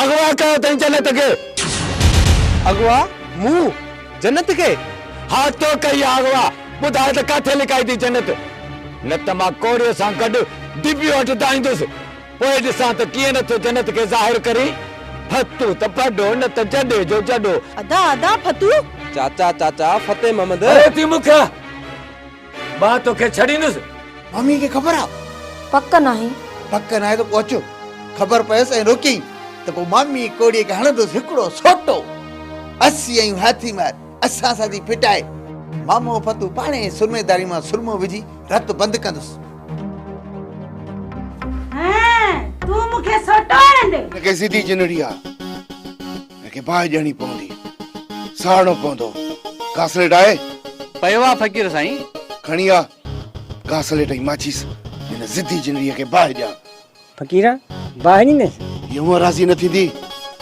اغوا ڪيو اٿئين جنت کي. اغوا؟ مون؟ جنت کي؟ ها تو ڪئي آ اغوا. ٻڌاء ته ڪاٿي لڪائي ٿي جنت. نه ته مان ڪوڙيء سان گڏ ديبيء وٽ دانهيندس. پوء ڏسان ته ڪيئن نه ٿو جنت کي ظاهر ڪرين. ڦتو ته ڦڏو نه ته جڏي جو جڏو. ادا ادا ڦتو. چاچا چاچا فتح محمد. ڀري ٿي مکيا. مان توکي ڇڏيندس. مامي کي خبر آ؟ پڪ ناهي. پڪ ناهي ته پوء اچو. خبر پيس ۽ روڪيائين ته پوء مامي ڪوڙيء کي هڻندس هڪڙو سوٽو. اسين آهيون هاٿي مار، اسان سان ٿي ڦٽائي. مامو فتوح پاڻهي ئي سرمي داري مان سرمو وجهي رت بند ڪندس. هينئن تون مون کي سوٽو هڻندين؟ هن کي سڌي جنڙي آ. هن کي باهه ڏيڻي پوندي. ساڙڻو پوندو. گاسليٽ آهي؟ پيو آ فقير سائين. کڻي آ گاسليٽ ۽ ماچيس هن ضدي جنڙيء کي باهه ڏيان. فقير باهه ڏينديس. هيء هونء راضي نه ٿيندي.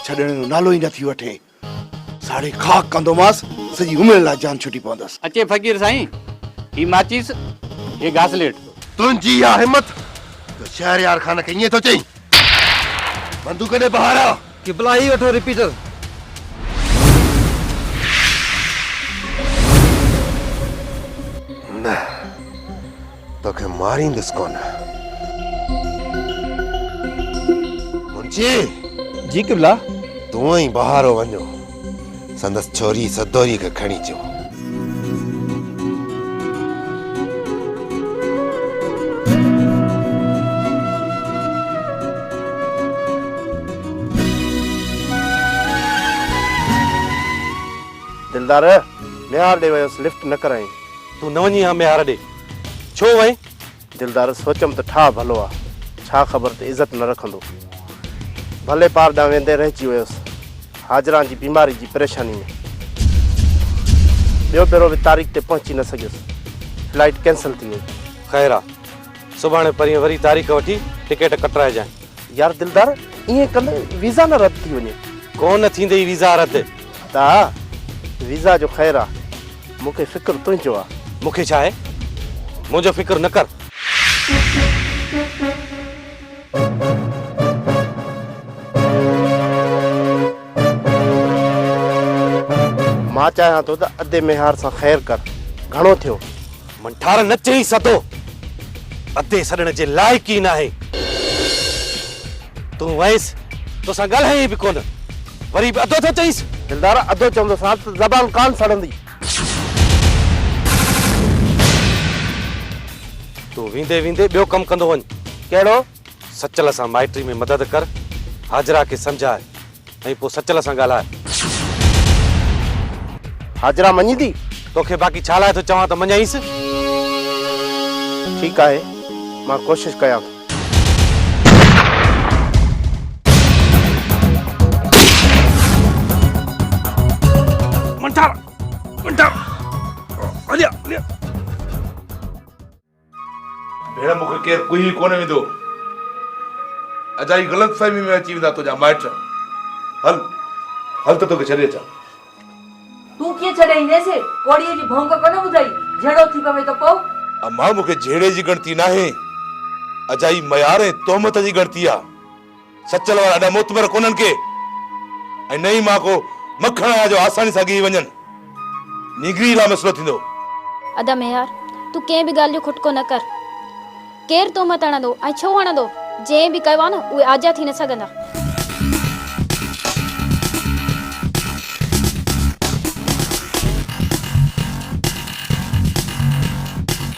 ڇڏڻ جو نالو ئي نه ٿي وٺي. ساڙي خاڪ ڪندومانس. سڄي عمر لاء جان ڇٽي پوندس. اچي فقير سائين. هي ماچيس هي گاسليٽ. تنهنجي اها همت! تو شهريار خان کي ائين ٿو چئين؟ بندوق ڏي بهارا! قبلا هي وٺو رپيٽر. نه توکي ماريندس ڪونه منشي. جي قبلا. تون ۽ بهارو وڃو. سندس ڇوري سدوري کي کڻي چيو. دلدار! ميهار ڏي ويس لفٽ نه ڪرائين. تون نه وڃين ها ميهار ڏي. ڇو وئين؟ دلدار، سوچيم ته ٺاهه ڀلو آ، ڇا خبر ته عزت نه رکندو. ڀلي پار ڏانهن ويندي رهجي ويس، حاجران جي بيماري جي پريشاني ۾. ٻيو ڀيرو به تاريخ تي پهچي نه سگهيس، فلائيٽ ڪينسل ٿي وئي. خير آ، سڀاڻي پرينء وري تاريخ وٺي ٽڪيٽ ڪٽرائجانء. يار دلدار، ائين ڪندء ويزا نه رد ٿي وڃي. ڪو نه ٿيندئي ويزا رد. ته آ، ويزا جو خير آ. مون کي فڪر تنهنجو آ. مون کي ڇا آهي؟ منهنجو فڪر نه ڪر. مان چاهيان ٿو ته ادي ميهار سان خير ڪر. گهڻو ٿيو. منٺار نه چئي سڌو ادي سڏڻ جي لائق ئي ناهي تون ويس توسان ڳالهائين به ڪونه وري به ادو ٿو چئيس دلدار ادو چوندو سان ته زبان ڪان سڙندي تون ويندي ويندي ٻيو ڪم ڪندو وڃ ڪهڙو سچل سان مائٽري ۾ مدد ڪر، حاجره کي سمجهاء ۽ پوء سچل سان ڳالهاء. حاجره مڃيندي؟ توکي باقي ڇا لاء ٿو چوان ته مڃيائينس. ٺيڪ آهي، مان ڪوشش ڪيان ٿو. منٺار! منٺار! هليا! هليا! ڀيڻ مون کي ڪير ڪوهي ڪونه ويندو. اجائي غلط فهمي ۾ اچي ويندا تنهنجا مائٽ. هل هل ته توکي ڇڏي اچان. تون ڪيئن ڇڏي اينديس؟ ڪوڙيء جي ڀونڪ ڪونه ٻڌئي؟ جهيڙو ٿي پوي ته پوء؟ امان مون کي جهيڙي جي ڳڻتي ناهي. اجائي ميار ۽ تهمت جي ڳڻتي آ. سچل وارا اڏا معتبر ڪونهن ڪي ۽ نه ئي مان ڪو مکڻ آهيان جو آساني سان ڳهي وڃن. نينگري لاء مسئلو ٿيندو. ادا ميهار تون ڪنهن به ڳالهه جو کٽڪو نه ڪر. ڪير تو مٿ هڻندو ۽ ڇو هڻندو؟ جنهن به ڪيو آهي نه اهي آجيا ٿي نه سگهندا.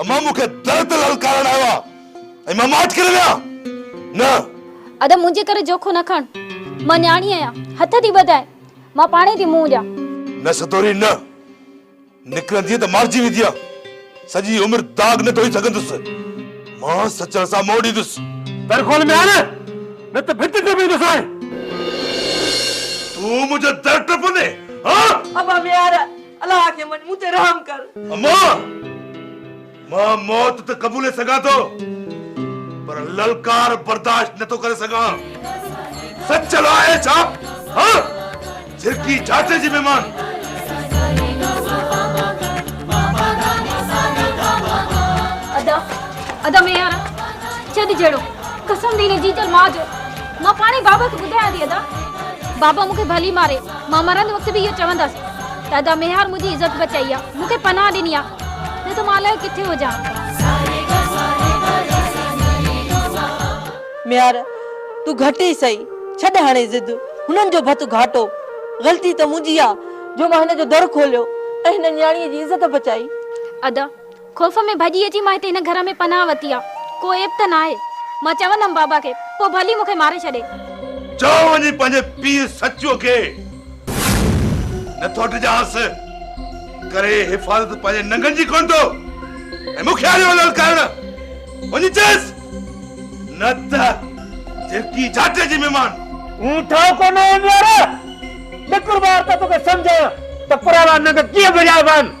امان مون کي در تي للڪارڻ آيو آ ۽ مان ماٺ ڪري ويهان نه. ادا منهنجي ڪري جوکو نه کڻ مان نياڻي آهيان هٿ ٿي ٻڌائي مان پاڻهي ٿي منهن ڏيان. نه سدوري نه نڪرندينء ته مارجي ويندينء سڄي عمر داغ نه ڌوئي سگهندس مان سچڻ سان منهن ڏيندس. در کول ميان نه ته ڀت ٽپيندوسانء. تون منهنجو در ٽپندين هان؟ ابا ميان الله کي مڃ مون تي رحم ڪر. اما! مان موت ته قبولي سگهان ٿو پر للڪار برداشت نه ٿو ڪري سگهان. سچل آهي ڇا؟ ها! جهرڪي جاچي جي مهمان. ادا! ادا ميهار! ڇڏ جهڙو. قسم ٿي هن جيجل ماء جو. مان پاڻهي بابا کي ٻڌايان ٿي ادا. بابا مون کي ڀلي ماري. مان مرندي وقت به اهو چوندس ته ادا ميهار منهنجي عزت بچائي آ، مون کي پناهه ڏني آ، نه ته مان الائي ڪٿي هجان ها. ميهار تون گهٽ ئي سهي، ڇڏ هاڻي ضد، هنن جو ڀت گهاٽو، غلطي ته منهنجي آ جو مان هن جو در کوليو ۽ هن نياڻيء جي عزت بچائي. ادا خوف ۾ ڀڄي اچي مان هتي هن گهر ۾ پناهه وتي آ. ڪو عيب ته ناهي. مان چوندم بابا کي. پوء ڀلي مون کي ماري ڇڏي. چئو وڃي پنهنجي پيء سچوء کي. نه ٿو ڊڄانس. ڪري حفاظت پنهنجي ننگن جي ڪونه ٿو. ۽ مون کي آيو آ للڪارڻ. وڃي چئس. نه ته جهرڪي جاٽي جي مهمان. هون ٺاهه ڪونه هونديار. نڪر ٻاهر ته توکي سمجهايان ته پراڻا ننگ ڪيئن ڀڄائبا آهن.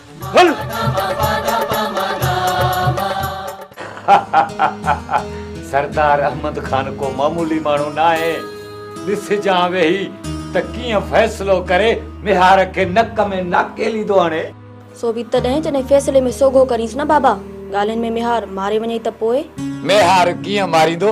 سردار احمد خان ڪو معمولي ماڻهو ناهي، ڏسجان ويهي ته ڪيئن فيصلو ڪري ميهار کي نڪ ۾ ناڪيلي ٿو هڻي. سو به تڏهن جڏهن فيصلي ۾ سوگهو ڪرينس نه بابا! ڳالهين ۾ ميهار ماري وڃئي ته پوء؟ ميهار ڪيئن ماريندو؟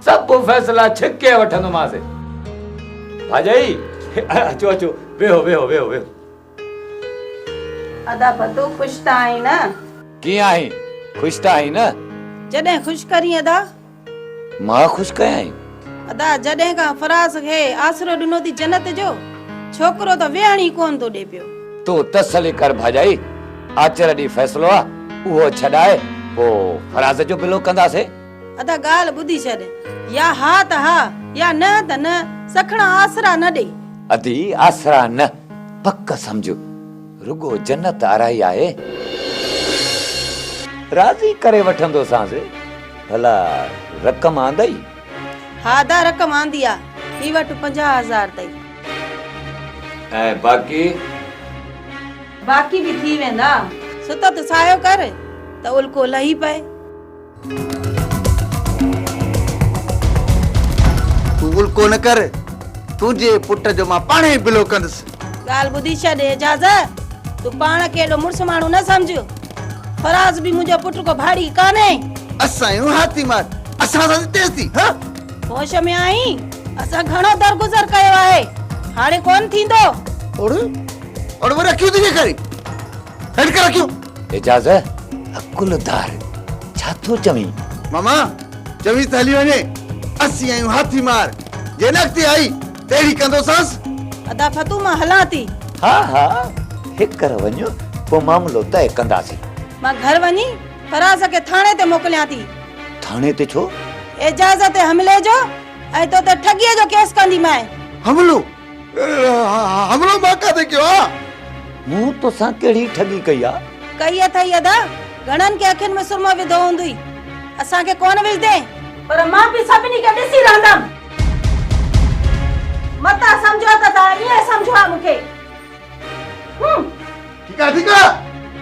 سڀ فيصلا ڇڪي وٺندومانس. ڀاڄائي، اچو اچو، ويهو ويهو ويهو ويهو. ادا ڀتو خوش ته آهين نه؟ ڪيئن آهين؟ خوش ته آهين نه؟ جڏهن خوش ڪرين ادا؟ مان خوش ڪيائين؟ ادا جڏهن کان فراز کي آسرو ڏنو ٿي جنت جو، ڇوڪرو ته ويهڻ ئي ڪونه ٿو ڏي پيو. تون تسلي ڪر ڀاڄائي، آچر ڏينهن فيصلو آ، اهو ڇڏائي پوء فراز جو بلو ڪنداسين. ادا ڳالهه ٻڌي ڇڏ. يا ها ته ها يا نه ته نه. سکڻا آسرا نه ڏي. ادي آسرا نه پڪ سمجهه. رڳو جنت آرائي آهي. راضي ڪري وٺندوسانس. ڀلا رقم آندئي؟ ها ادا رقم آندي آ. ٿي وٺ پنجاهه هزار تائين. ۽ باقي؟ باقي به ٿي ويندا. ستت ساهيو ڪر ته الڪو لهي پئي. تون الڪو نه ڪر تنهنجي پٽ جو مان پاڻ ئي بلو ڪندس. ڳالهه ٻڌي ڇڏ اعجاز تون پاڻ کي ايڏو مڙس ماڻهو نه سمجهه فراز به منهنجو پٽ ڪو ڀاڙي ڪانهي. اسان آهيون هاٿي مار اسان سان تيز ٿي ها. هوش ۾ آهين اسان گهڻو درگذر ڪيو آهي هاڻي ڪونه ٿيندو. اڙي اڙي وري اکيون ٿي ڏيکارين هيٺ ڪر اکيون. اعجاز عقل ڌار ڇا ٿو چوين؟ ماما چويس ته هلي وڃي اسين آهيون هاٿي مار جنهن اڳتي آئي تهڙي ڪندوسانس. ادا فتو مان هلان ٿي. ها ها هيڪر وڃ پوء معاملو طئي ڪنداسين. مان گهر وڃي فراز کي ٿاڻي تي موڪليان ٿي. ٿاڻي تي ڇو؟ اعجاز تي حملي جو ۽ تو تي ٺڳيء جو ڪيس ڪنديمانء. حملو حملو مان ڪانه ڪيو آ. مون توسان ڪهڙي ٺڳي ڪئي آ. ڪئي اٿئي ادا گهڻن کي اکين ۾ سرمو وڌو هوندئي اسان کي ڪونه وجهدين. پر مان به سڀني کي ڏسي رهندم. متان سمجهو ته تان ائين سمجهو آ مون کي. ٺيڪ آ ٺيڪ آ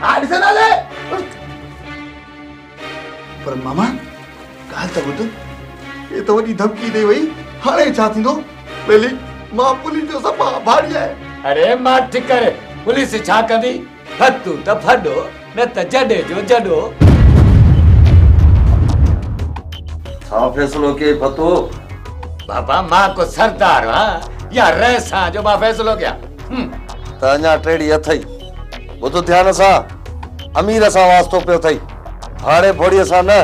آء ڏسنداسين. پر ماما ڳالهه ته ٻڌ، هي ته وڏي ڌمڪي ڏئي وئي، هاڻي ڇا ٿيندو؟ ٻيلي، مان پوليس جو صفا آڀاري آهيان. اڙي ماٺ ڪر، پوليس ڇا ڪندي؟ ڦٽون ته ڦڏو، نه ته جڏي جو جڏو. ڇا فيصلو ڪيئي ڀتو؟ بابا مان ڪو سردار هان يا رئيس هان جو مان فيصلو ڪيان. ته اڃا ٽيڙي اٿئي. ٻڌ ڌيان سان امير سان واسطو پيو اٿئي ڀاڙي ڀوڙي سان نه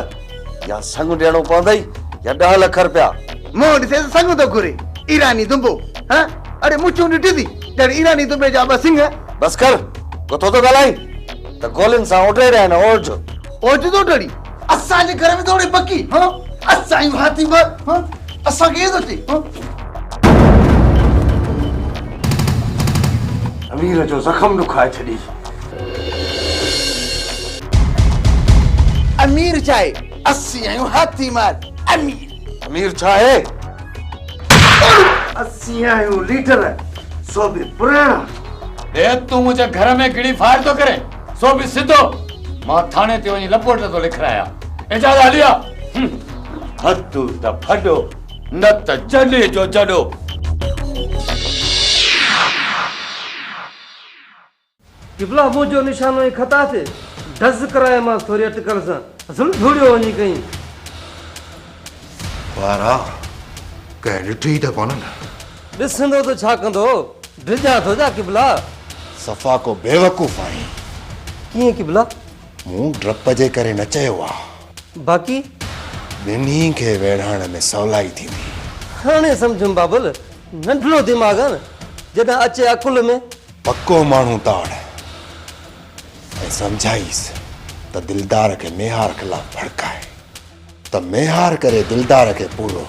يا سڱ ڏيڻو پوندئي يا ڏهه لک رپيا منهن ڏسي ته سڱ ٿو گهري ايراني دنبو ها اڙي مڇون ڏٺي اٿي ڄڻ ايراني دنبي جا ٻه سڱ بس ڪر ڪٿو ٿو ڳالهائين ته گولين سان اوڍي رهيا آهن اوڍ اوڍ ٿو ڊڙي اسان جي گهر ۾ ٿو اڙي بڪي ها اسان جون هاٿيون ٻه ها اسان کي ايئن ٿو چئي ها امير جو زخم ڏکائي ڇڏي. امير چاهي اسين آهيون هاٿي مار امير. امير چاهي اسين آهيون ليڊر سو به پراڻا. بيد تون منهنجي گهر ۾ گڙي فائر ٿو ڪرين سو به سڌو. مان ٿاڻي تي وڃي لپورٽ ٿو لکرايان اجازت هلي آ. هتو ته ڦڏو. نه ته جڏي جو جڏو. قبلا منهنجو نشانو ۽ خطا تي ڊز ڪرايومانس ٿوري اٽڪل سان زل ڌوڙيو وڃي ڪئين. وارا ڪنهن ڏٺي ئي ته ڪونهن. ڏسندو ته ڇا ڪندو ڊڄان ٿو جا قبلا. صفا ڪو بيوقوف آهين. ڪيئن قبلا؟ مون ڊپ جي ڪري نه چيو آ. باقي؟ ٻنهي کي ويڙهائڻ ۾ سولائي ٿيندي. هاڻي سمجهيم بابل، ننڍڙو دماغ آ نه، جڏهن اچي عقل ۾. پڪو ماڻهو تاڙ ۽ سمجهائيس ته دلدار کي ميهار خلاف ڀڙڪاء ته ميهار ڪري دلدار کي پورو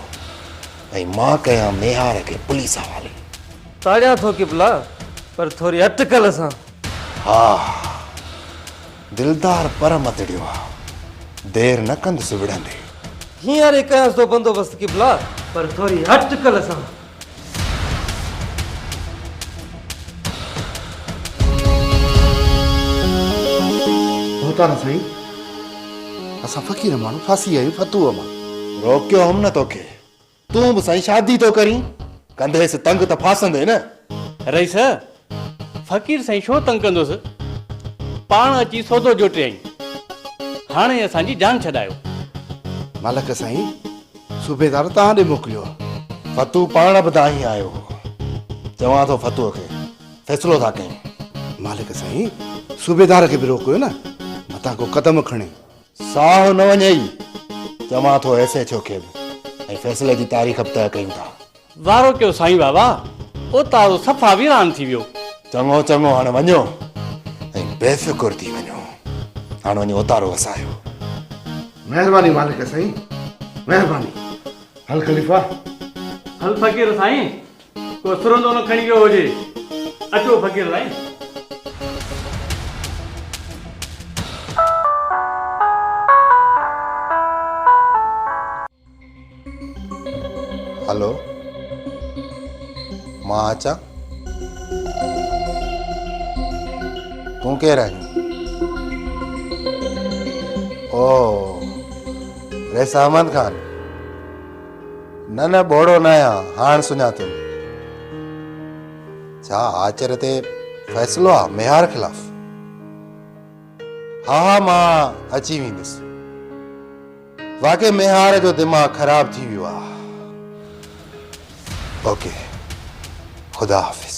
۽ مان ڪيان ميهار کي پوليس حوالي. تاڙيان ٿو ڪبلا، پر ٿوري اٽڪل سان. ها. دلدار پر مدڙيو آ. دير نه ڪندس وڙهندي. هينئر ئي ڪيانس ٿو بندوبست قبلا. پر ٿوري اٽڪل سان. ڀوتار سائين! اسان فقير ماڻهو ڦاسي ويا آهيون فتوح مان. روڪيو هوم نه توکي. تون به سائين شادي ٿو ڪرين؟ ڪنديس تنگ ته ڦاسندين نه؟ رئيس، فقير سائين ڇو تنگ ڪندوس؟ پاڻ اچي سودو جوٽيائين. هاڻي اسان جي جان ڇڏايو. ملڪ سائين، صوبيدار توهان ڏي موڪليو آ. فتوح پاڻ به دانهين آيو هو. چوان ٿو فتوح کي فيصلو ٿا ڪيون. ملڪ سائين، صوبيدار کي به روڪيو نه. متان ڪو قدم کڻي. ساهو نه وڃئي، چوان ٿو ايس ايڇ او کي به ۽ فيصلي جي تاريخ به طئه ڪيون ٿا. وارو ڪيو سائين بابا، اوطارو صفا ويران ٿي ويو. چڱو چڱو هاڻ وڃو ۽ بي فڪر ٿي وڃو، هاڻ وڃي اوطارو وسايو. مهرباني مالڪ سائين مهرباني. هل خليفا هل فقير سائين ڪو سرندو نه کڻي ويو هجي. اچو فقير سائين. هلو مان اچان تون ڪير آهين اوه رئيس احمد خان نه نه ٻوڙو نه آهيان، هاڻ سڃاتم. ڇا آچر تي فيصلو آ ميهار خلاف؟ ها ها مان اچي ويندس. واقعي ميهار جو دماغ خراب ٿي ويو آ. اوڪي خدا حافظ.